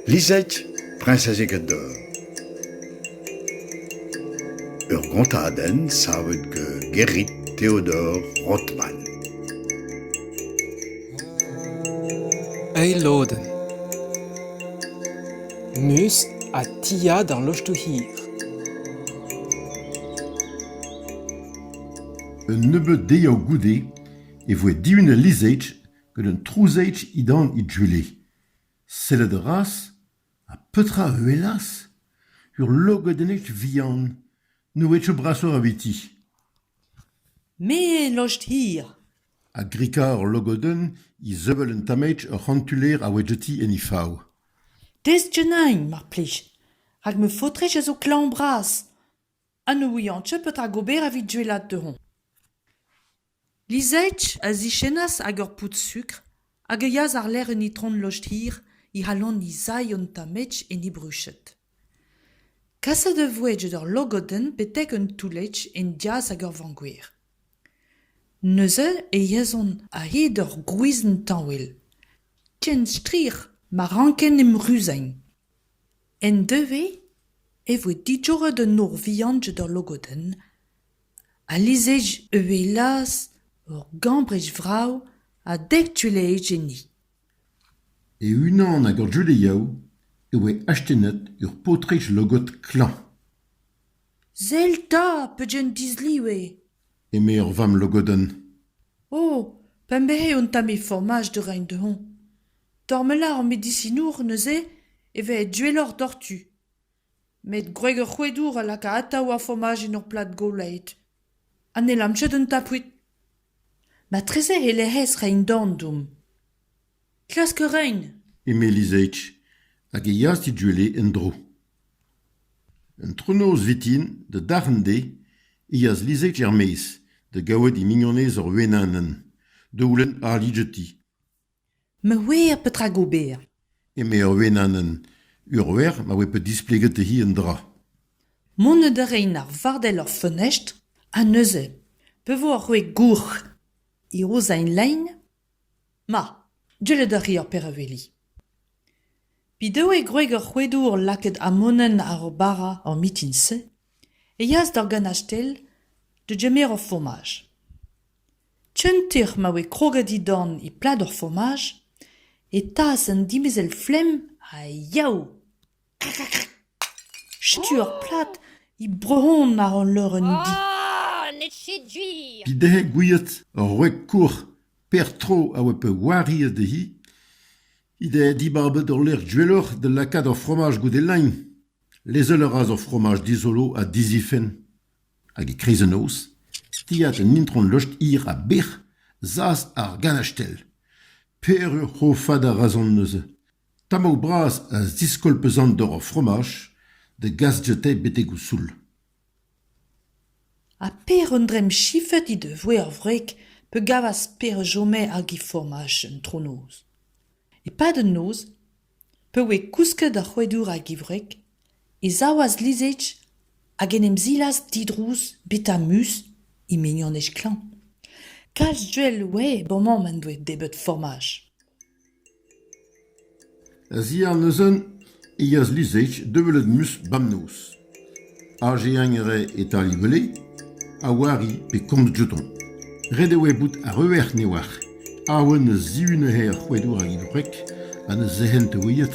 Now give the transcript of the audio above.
Lizette, priñsez Egador. Ur gontadenn savet gant Gerrit Theodor Rothman. Eil lodenn. Neus ha tia d'an loch-to hir. Un nebeud dezhañ goude e voe dihunet al lizheig gant un trouzheig indan he gwele. Sellout a ras ha petra a ouelas ? Ur logodennig vihan. N'oa ket zo brasoc'h eviti. Me lost hir. A grika ur logodenn izevel un tammig ur c'hantuler a oa diouti en he fav. Destenn-eñ, mar plij, rak ma faotrig a zo klañv-bras. ha ne ouian ket petra gober evit gwelet dezhoñ. Lizage a zichennas hag ur poud sukr hag a yeas àr-lerc'h un itron lojdir he c'halon he sailh un tamm-ech en he bruched. Kaset e voe get ur logodenn betek un toull-ech en diaz hag ur vangwir. Neuze e yezhont a-hed ur gwizhenn tañwell. Ken strir ma ranken em ruzeiñ. En devezh e voe digoret un nor vihan d'al logodenn ha lizhiri a welas ur gambrej vrav ha dek tuelezh enni. E-unan hag ur Judeaoù e oa astennet ur paotrig logod klañv. Sell 'ta pedenn disliv eo! eme ur vamm logodenn. O, p'em behe un tamm e formaj da reiñ dezhoñ. Tormella ar medisinour neuze e vez duelloc'h doc'htu. Met gwreg ur c'hoedour a laka atav ar fomaj en ur plad golaet. Ha ne lam ket un tapout. Matreze e-lec'h rein-dorn deomp. Klask a rain. eme Lizage hag e yas diduellet en-dro. Antronoz vintin, da darn dezhe, e yas Lizage er-maez da gaouet he mignonez ur wenanenn, daoulin àr lidjeti. ma ouer petra gober eme ur wenanenn ur wer ma oa bet displeget dezhi un dra mont da reiñ ar vardell er feunestr ha neuze pa vo ar roue gourc'h e rozailh lein ma deuet a ri ar pereuveli p'he doe gwreg ar c'hoedour lakaet amonenn àr o bara er mitin-se e yas d'ur ganastell da gemer ur fomaj Tcheuntec'h ma voe kroget dindan e plador fomaj e taas an dimezell-flemm ha Yaou. Setu ur plad e brehont àr hon leurenn di. N'eo ket gwir. Evit dezhe gouiet ur wreg kouc'h Per-Tro a oa peurwariet dezhi he deus dibabet ur lec'h goueloc'h da lakaat ar fromaj goude lein. Lezel a ra ar fromaj dizolo ha dizifenn. Hag e-kreiz an noz, tiad an itron Lost-hir ha bec'h 'z as ar ganastell. Peureur c'hofad a razont neuze. Tammou bras a ziskolpezont doc'h ar fromaj da gas dioutañ betek o soul. Ha Pêr an Dremm chifet he devoe ar wreg pa gavas Pêr a chome hag he fromaj antronoz. E-pad an noz Pa oe kousket ar c'hoadour a-gevret e savas Lizig hag en em zilas didrouz Betamus, he mignonez klañv. Kalz duell oe ba mamm en doe debeut formaj. A-ziàr neuzen e yeas Lizig da welet Mus bamnoz. Azeañere e Talibele a oari pe komz dioutañ. Ret eo bout arruer neoazh awen eus zihunañ ar c'hrouadour hag e wreg ha ne zehent ouiet.